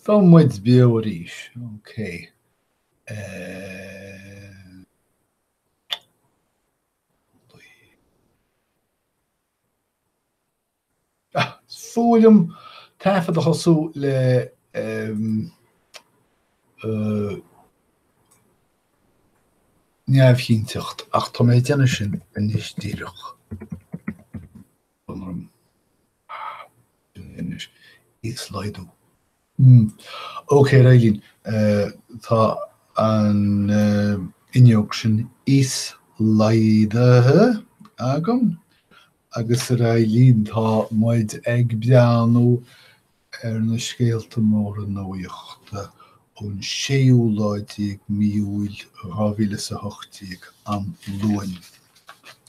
Tá muid beo arís, ok. Is fuath liom taifead a thosú le neamhchinnteacht, ach tá mé ag déanamh sin anois díreach. orm. Sin é anois. Íoslaghdú. Mmm. Ok, réidh linn. Tá an fhuinneog sin íoslaghdaithe agam agus réidh linn tá muid ag breathnú ar na scéalta móra nuachta ón séú lá déag mí Iúil dhá mhíle is a hocht déag, an Luain,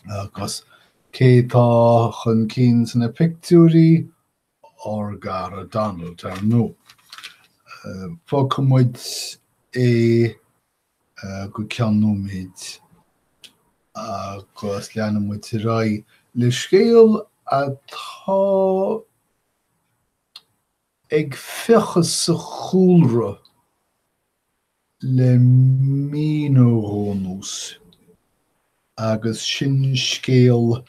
agus. Cé tá chun cinn sna pictiúirí? Ár gcara Donald, ar ndóigh. Fágfaidh muid é go ceann nóiméid agus leanfaidh muid ar aghaidh le scéal atá ag fiuchadh sa chúlra. le mí nó dhó anuas, agus sin scéal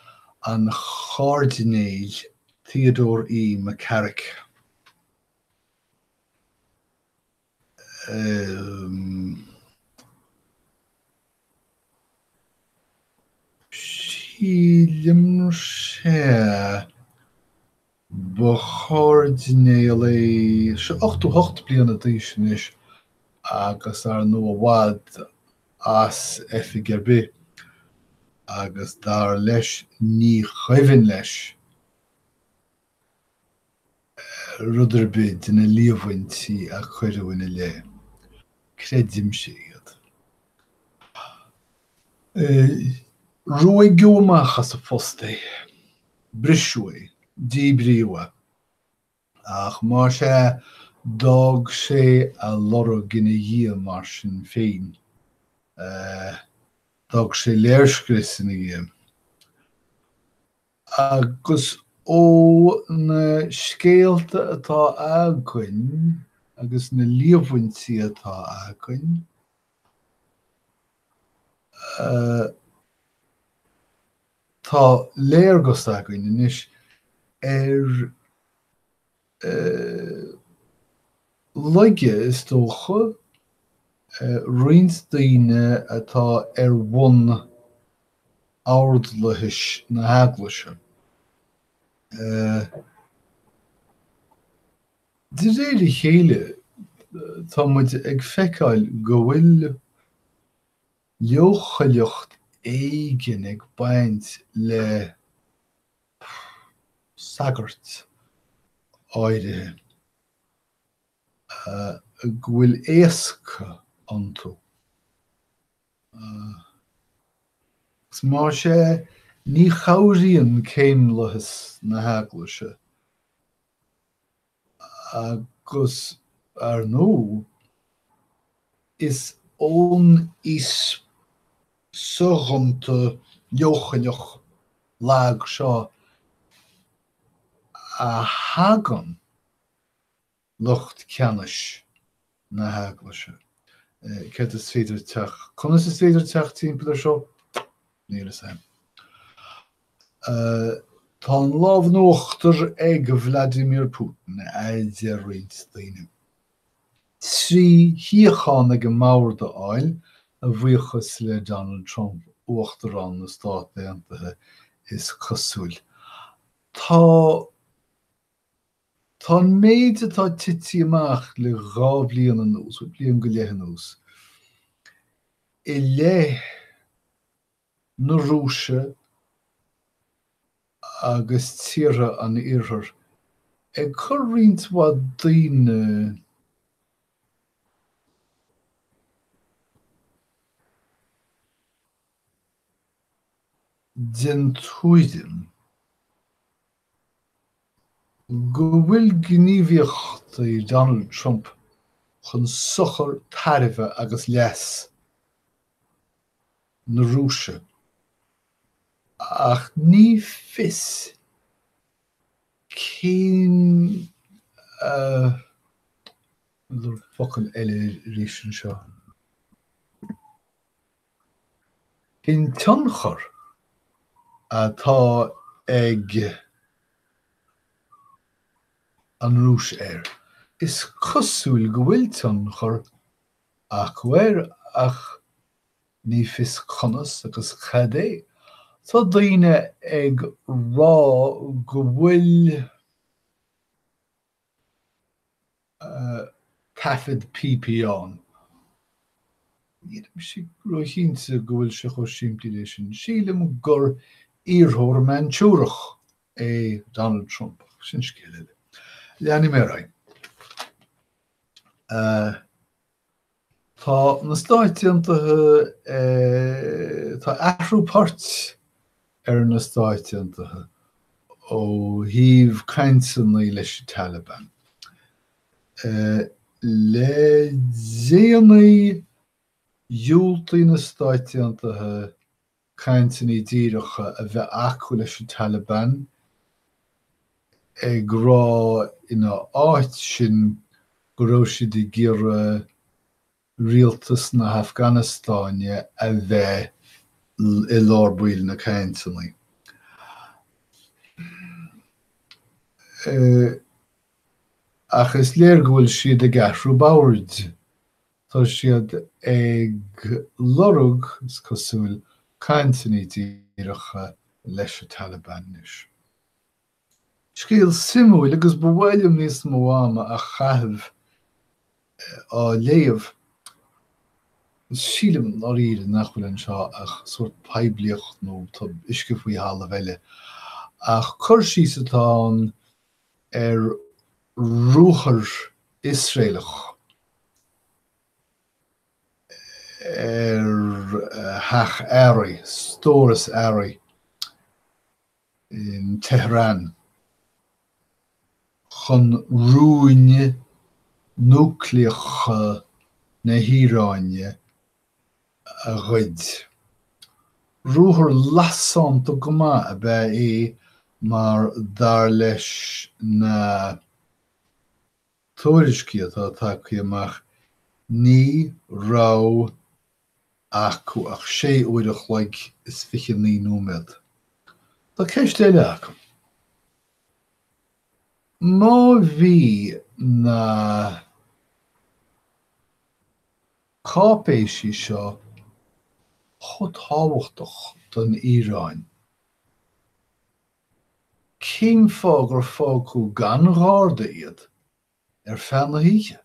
an Chairdinéil Theodore E. McCarrick. Sílim, sea. Ba Chairdinéal é seo, ochtó hocht bliana d'aois anois, agus ar ndóigh i bhfad as oifig ar bith, agus dar leis ní chuimhin leis rud ar bith de na líomhaintí a cuireadh ina leith. Creidimse iad. Ruaigeadh amach as a phost é, briseadh é, díbríodh é. Ach mar sin, d'fhág sé a lorg ina dhiaidh mar sin féin. D'fhág sé léirscrios ina dhiaidh. Agus ó na scéalta atá againn agus na líomhaintí atá againn, Tá léargas againn anois ar laige, is dócha, roinnt daoine atá ar bun ordlathais na hEaglaise. De réir a chéile tá muid ag feiceáil go bhfuil leochaileacht éigin ag baint le sagairt áirithe, go bhfuil éasc iontu. Agus más ea, ní chabhraíonn céimlathas na hEaglaise. Agus ar ndóigh, is ón aois soghonta leochaileach lag seo a thagann lucht ceannais na hEaglaise. Céard is féidir teacht, conas is féidir teacht timpeall ar seo? Níl fhios a'm. Tá an lámh in uachtar ag Vladimir Putin, adeir roinnt daoine. Trí shuíochán ag an mbord a fháil, a bhuíochas le Donald Trump, Uachtarán na Stát Aontaithe, is cosúil. Tá. Tá an méid atá tití amach le dhá bhliain anuas, bhuel bliain go leith anuas, i leith na Rúise agus tíortha an Iarthair, ag cur roinnt mhaith daoine den tuairim, go bhfuil gníomhaíochtaí Donald Trump chun sochar tairbhe agus leas na Rúise, ach ní fios cén, abair focal eile arís anseo. An tionchar atá ag an Rúis air? Is cosúil go bhfuil tionchar acu air ach ní fios conas agus cad é. Tá daoine ag rá go bhfuil. taifead píopaí ann. Nílim róchinnte go bhfuil sé chomh simplí leis sin. Sílim gur iarrthóir Manchúrach é Donald Trump, ach sin scéal eile. Leanfaidh mé ar aghaidh. Tá na Stáit Aontaithe Tá athrú poirt ar na Stáit Aontaithe ó thaobh cainteanna leis an Taliban. Le déanaí, dhiúltaigh na Stáit Aontaithe cainteanna díreacha a bheith acu leis an Taliban ag rá ina áit sin go raibh siad ag iarraidh rialtas na hAfganastáine a bheith i lár baill na cainteanna. Ach is léir go bhfuil siad ag athrú poirt Tá siad ag lorg, is cosúil, cainteanna díreacha leis an Taliban anois. Scéal suimiúil agus ba mhaith liom níos mó ama a chaitheamh á léamh. Sílim i ndáiríre nach bhfuil anseo ach sórt poiblíocht nó uisce faoi thalamh eile, ach cur síos atá ann ar ruathar Iosraelach ar theach earraí, stóras earraí, in Tehran chun rúin núicléacha na hIaráine a ghoid. Ruathar lasánta go maith ab ea é mar dar leis na. tuairiscí atá tagtha amach ní raibh acu ach sé uair a chloig is fiche naoi nóiméad. Tá ceist eile agam. Má bhí na cáipéisí seo chomh tábhachtach don Iaráin, Cén fáth gur fágadh gan gharda iad ar feadh na hoíche?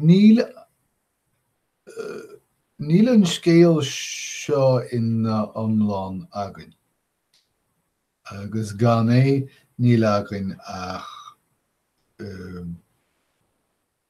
Ní, níl an scéal seo ina iomlán againn, agus gan é, níl againn ach.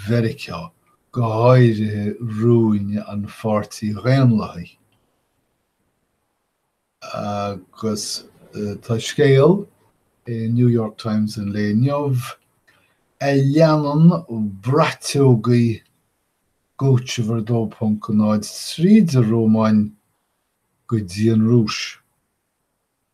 Mheiriceá, go háirithe rúin an Pháirtí Dhaonlathaigh, agus tá scéal i New York Times an lae inniu a leanann braiteoga Guccifer 2.0 tríd an Rómáin go dtí an Rúis.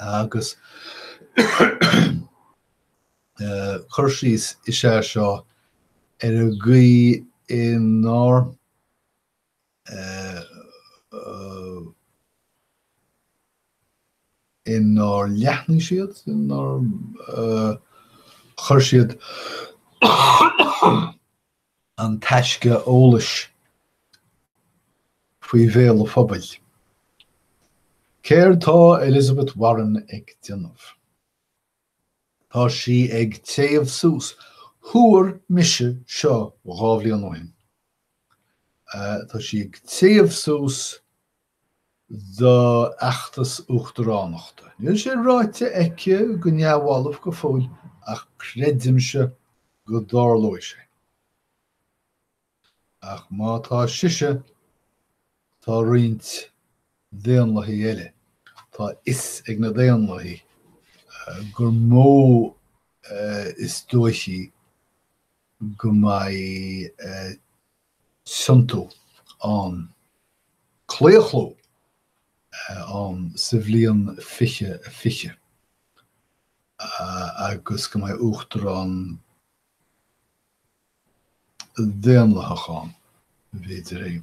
Agus cur síos is ea seo ar an gcaoi inár leathnaigh siad, inár chuir siad an taisce eolais faoi bhéal an phobail. Céard atá Elizabeth Warren ag déanamh? Tá sí ag téamh suas. Thuar mise seo dhá bhliain ó shin. Tá sí ag téamh suas. d'fheachtas uachtaránachta. Níl sé ráite aici go neamhbhalbh go fóill ach creidimse go dtarlóidh sé. Ach má tá sise, tá roinnt Daonlathaithe eile. Tá a fhios ag na Daonlathaithe gur mó is dóichí go mbeidh. an tiontú, an claochlú, ann sa bhliain 2020 agus go mbeidh Uachtarán Daonlathach ann, b'fhéidir é.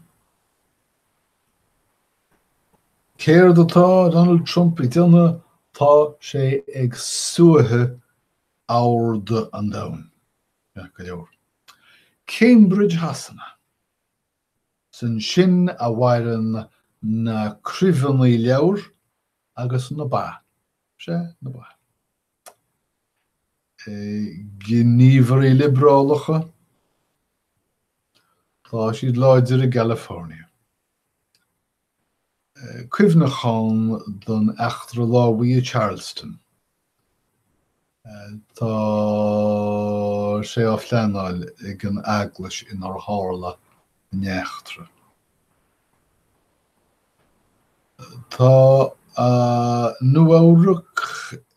Céard atá Donald Trump ag déanamh? Tá sé ag suaitheadh aird an domhain, ceart go leor. Cambridge Shasana. Is ansin a mhaireann na cruimheanna leabhar agus na ba, sea, na ba. gníomhairí liobrálacha, tá siad láidir i gCalifornia. cuimhneachán don eachtra lámhaigh i Charleston. Tá sé á phleanáil ag an eaglais inar tharla an eachtra. Tá Nua-Eabhrac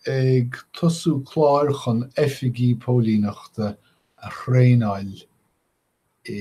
ag tosú clár chun oifigigh póilíneachta a thraenáil i.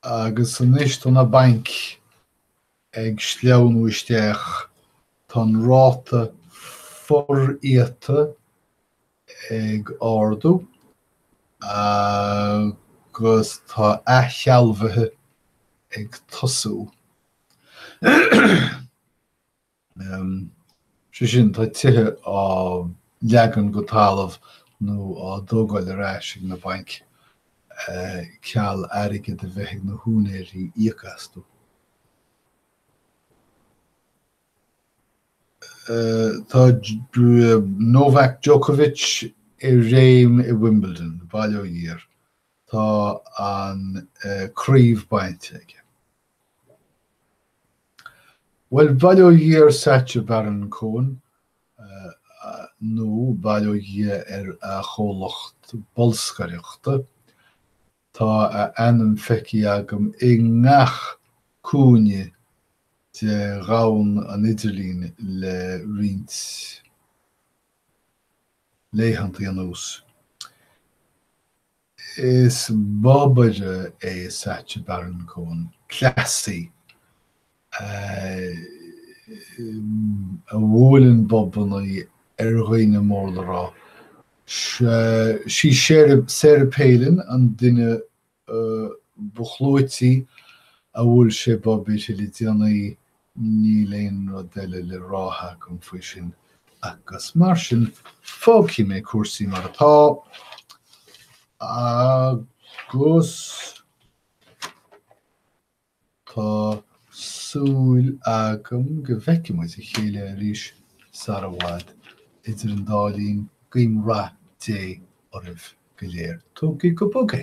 Agus anois tá na bainc ag sleamhnú isteach, tá an ráta foriata ag ardú agus tá athshealbhuithe ag tosú. sé sin, tá tithe á leagan go talamh nó á dtógáil ar ais ag na bainc ceal airgead a bheith ag na húinéirí íoc astu. Tá Novak Djokovic i réim i Wimbledon, bail ó Dhia air, tá an chraobh bainte aige. Bhuel, bail ó Dhia ar Sacha Baron Cohen, nó bail ó Dhia ar a chomhlacht bolscaireachta, tá a ainm feicthe agam i ngach cúinne de dhomhan an idirlín le roinnt laethanta anuas. Is bobaire é Sacha Baron Cohen, cleasaí a bhuaileann bobanna ar dhaoine mór le rá. Sí í Sarah Palin an duine ba chlúití a bhuail sé bob uirthi le déanaí, Níl aon rud eile le rá agam faoi sin agus mar sin fágfaidh mé cúrsaí mar atá agus tá súil agam go bhfeicfidh muid a chéile arís sara bhfad. Idir an dá linn, guím rath Dé oraibh go léir. Tógaigí go bog é!